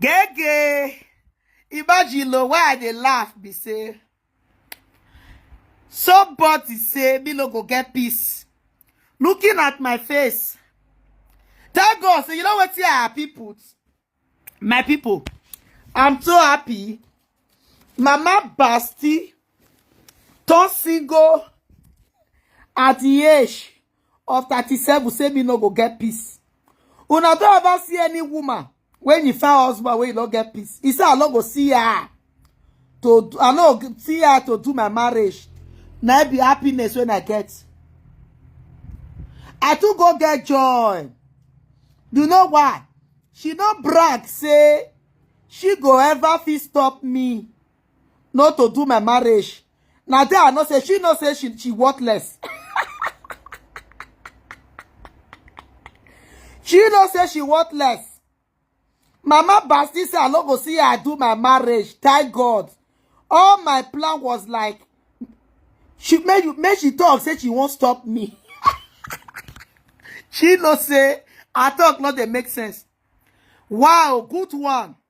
Gege. Imagine lo why I dey laugh be say somebody say me no go get peace. Looking at my face. Thank God say you know what I happy put. My people, I'm so happy. Mama Basti turn single at the age of 37 say me no go get peace una don ever see any woman when he found husband when he no get peace he say i no go see her to i no see her to do my marriage na be happiness when i get i too go get joy you know why she no brag say she go ever fit stop me not to do my marriage na there i know say she know say she she worthless she know say she worthless mama basti say i no go see her do my marriage thank god all my plan was like she make you make she talk say she won't stop me she no say her talk no dey make sense wow good one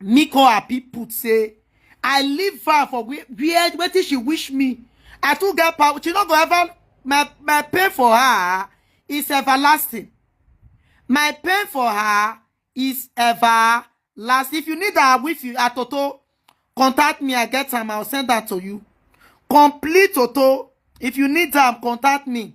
Miko Abi put say, I leave her for where, where wetin she wish me. I too get power. She no go ever, my, my pain for her is everlasting. My pain for her is everlasting. If you need her with you, a Toto, contact me. I get time. I'll send that to you. Complete Toto. If you need them, contact me.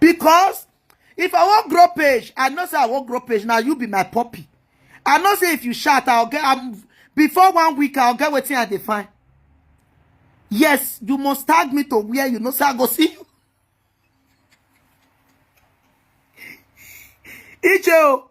because if i wan grow page i know say i wan grow page na you be my puppy i know say if you shout i'll get I'm, before one week i'll get wetin i dey find yes you must tag me to where you know say i go see you iche o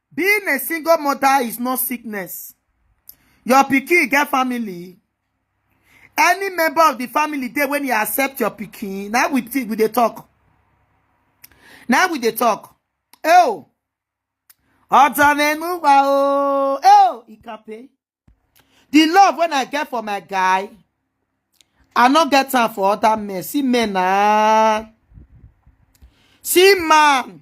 Being a single mother is not sickness. Your pikin get family. Any member of the family there when you accept your pikin, now we think we dey talk. Now we dey talk. Oh, Otanenuwa oh, oh, Ikape. The love when I get for my guy, I not get time for other men. See men ah. See man.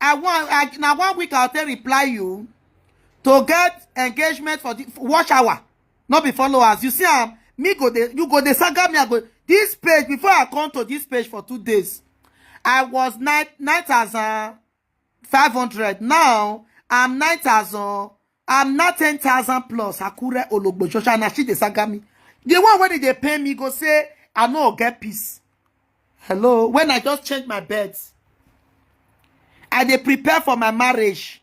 I want I, na one week I take reply you to get engagement for the watch hour, not be followers. You see, I'm um, me go dey you go dey saga me i go this page before i come to this page for two days i was nine nine thousand five hundred now i'm nine thousand I'm not 10,000 plus Akure Ologbo Shosha and she dey saga me. The one when they pay me go say, I no get peace. Hello, when I just change my beds, I dey prepare for my marriage.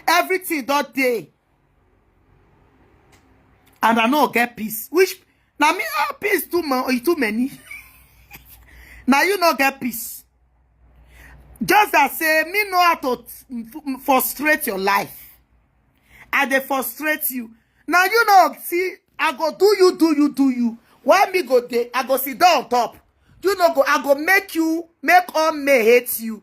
Everything that day, and I no get peace. Which Now me ah peace too much too many. now you no get peace. Just as say me know how to frustrate your life. I they frustrate you. Now you know see I go do you do you do you. Why me go there? I go sit down on top. You know go I go make you make all me hate you.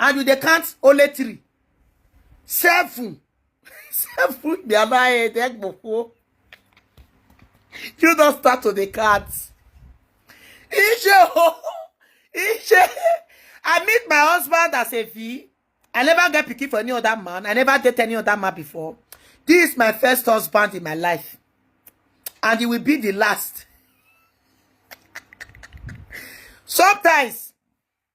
and you dey count only three seven seven be another head egbofo you don start to dey count iṣẹ o iṣẹ i meet my husband as a v i never get pikin for any other man i never date any other man before this is my first husband in my life and he will be the last sometimes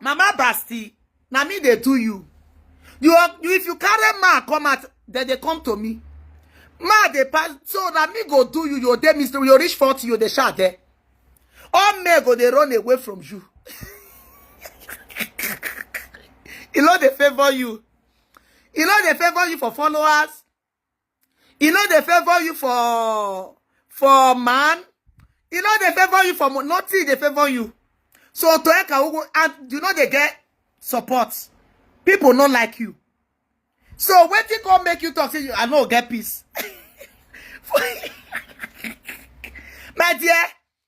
Mama Basti, na me they do you. You, are, you if you carry ma come out, then they come to me. Ma they pass, so na me go do you. Your day, Mister, you reach forty, you dey shout there. All men go they run away from you. e no dey favour you e no dey favour you for followers You know they favor you for for man. You know they favor you for nothing. They favor you. So to Eka and you know they get support. People not like you. So when you go make you talk, say you I know get peace. My dear,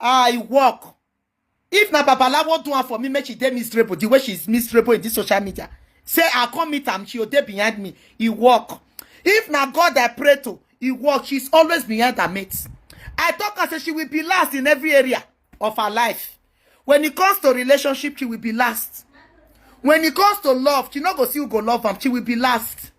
I work. If na Babalawo do am for me, make she dey miserable the way she is miserable in this social media. Say I come meet am, she go dey behind me. He work. If na God I pray to, he work. She's always behind her mates. I talk her say she will be last in every area of her life. When it comes to relationship, she will be last. When it comes to love, she no go see who go love am. She will be last.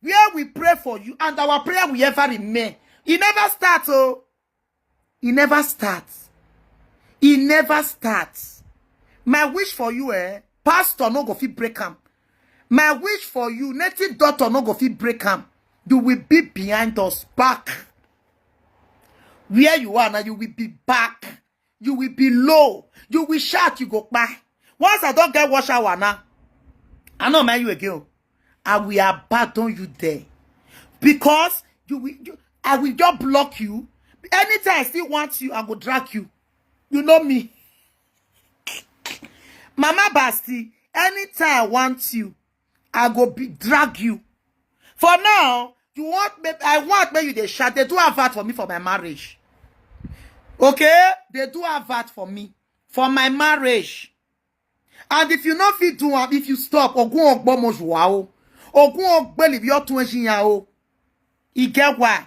where we pray for you and our prayer will ever remain. It never starts, oh. It never starts. It never starts. My wish for you, eh? Pastor no go fit break am. My wish for you, native daughter no go fit break am. You will be behind us back. Where you are now, you will be back. you will be low you will shout you go kpai once i don get wash hour now i no mind you again i will abandon you there because you will you, i will just block you anytime i still want you i go drag you you know me mama basti anytime i want you I go be drag you. For now, you want me, I want me you they shout. They do have that for me for my marriage. Okay? They do have that for me for my marriage. And if you not fit do am, if you stop, ogun ogbo mo zuwa o. Ogun ogbe libi otun ejiyan o. E get why.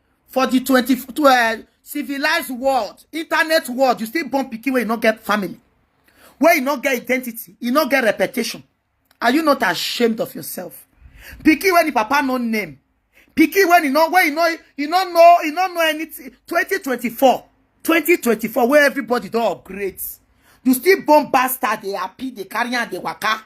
for the 20 to, uh, civilized world internet world you still born pikin wey you no get family wey you no get identity you no get reputation are you not ashamed of yourself pikin wey the papa no name pikin wey you no wey you no you no know you no know anything 2024 2024 where everybody don upgrade you still born bastard dey happy dey carry am dey waka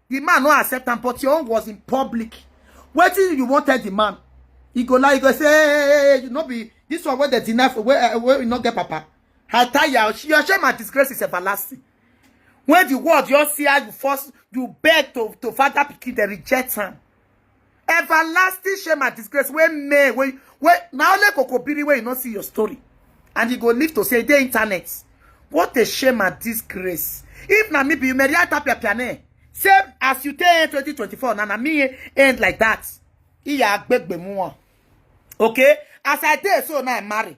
The man no accept am, but your own was in public. Wetin you wan tell the man? He go lie, he go say, hey, hey, hey, hey, you no be this one wey dey deny for wey uh, wey no get papa. I tell you, she your shame and disgrace is everlasting. When the world just see how you force, you beg to to father pikin, they reject am. everlasting shame and disgrace wey may wey wey na only kokobiri wey you no see your story and you go live to say the internet what a shame and disgrace if na me be you maria tapia piane say as you take end 2024 na na me end like that iya agbegbe mu wọn okay as i dey so now i marry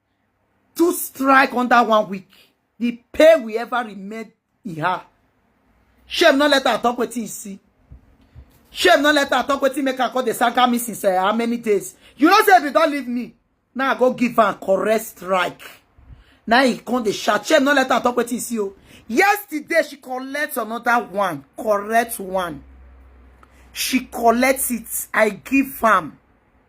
two strike under one week the pay will ever remain in her shame no let her talk with you see shame no let her talk with you make her call the saga me since uh, how many days you know say if you don't leave me now i go give her correct strike now he come the shout shame no let her talk with you see oh. yesterday she collect another one correct one she collects it i give am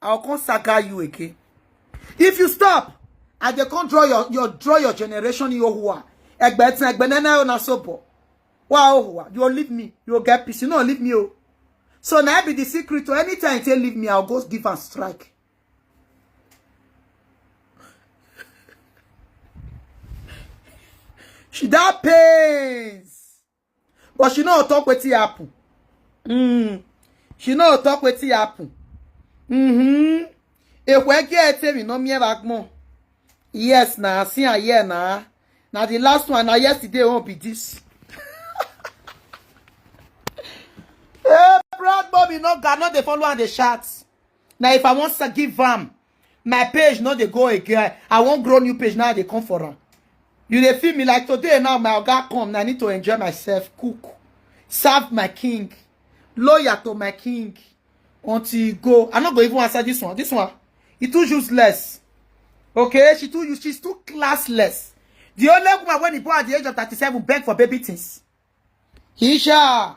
I will come saga you again. If you stop, I dey come draw your your draw your generation in Yohua. Egbe tin egbe nana na so bo. Wa Yohua, you will leave me. You will get peace. You no leave me oh. So now be the secret to anytime they leave me, I'll go give and strike. She that pains. but she no talk wetin happen mm. she no talk wetin happen mm-hmm. ekwege etemi no mie bagmo yes na see am here na na the last one na yesterday won't be this hey proud bobby no ga no dey follow am dey shout na if i wan give am my page no dey go again i wan grow new page now i dey come for am you dey feel me like today now my oga come na i need to enjoy myself cook serve my king loyal to my king until he go i no go even answer this one this one e too useless okay she too use she's too classless the only woman wey he born at the age of thirty-seven beg for baby things isha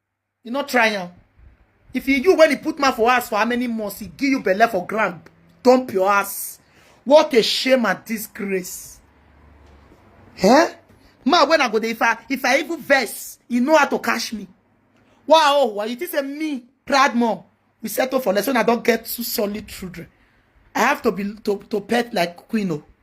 You no try am. If you you when he put man for ass for how many months, he give you belle for ground, dump your ass. What a shame and disgrace. Eh? Ma, when I go there, if I, if I even verse, you know how to cash me. Wow, why you think say me, proud mom, we settle for less when I don't get two solid children. I have to be to, to pet like Queen. oh.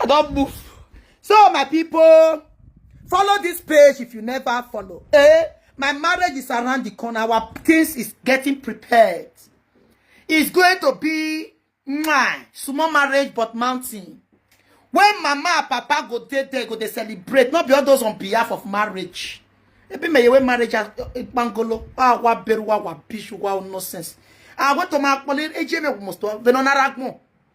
I don't move. So my people, follow this page if you never follow. Eh? My marriage is around the corner. Our things is getting prepared. It's going to be my small marriage but mountain. When mama and papa go there, they go they celebrate. Not be all those on behalf of marriage. Ebi me yewe marriage as bangolo. Ah, wa beru wa wa bishu wa nonsense. I want to ma pole eje me must to venonaragmo.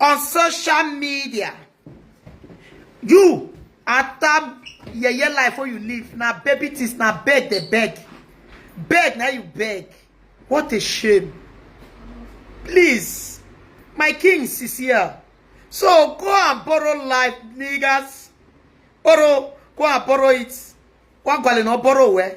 on social media you after yeye life wey you live na baby things na beg dey beg beg na you beg what a shame please my kings is here so go and borrow life niggas borrow go and borrow it one gwale na borrow well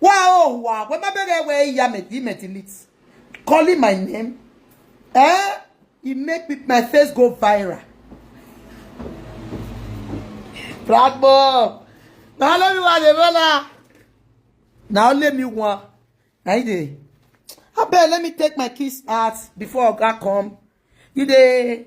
Wow, wow. When my baby where ya met, he met in it. Calling my name. Eh? He make me, my face go viral. Black boy. Now let me want the brother. Now let me want. Now you dey. I bet let me take my kiss out before Oga come. You dey.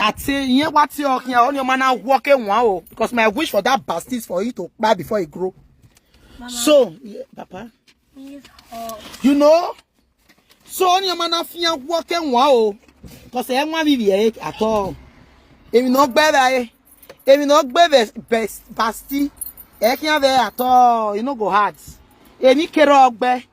Ati yen wati okin a only man now walk in one oh because my wish for that bastard is for it to buy before it grow. Mama, so, yeah, Papa. You know? So only man now fear walk in one oh because I want to be at all. If you not better, eh? If you not better, best bastard, I can't be at all. You know go hard. Any care of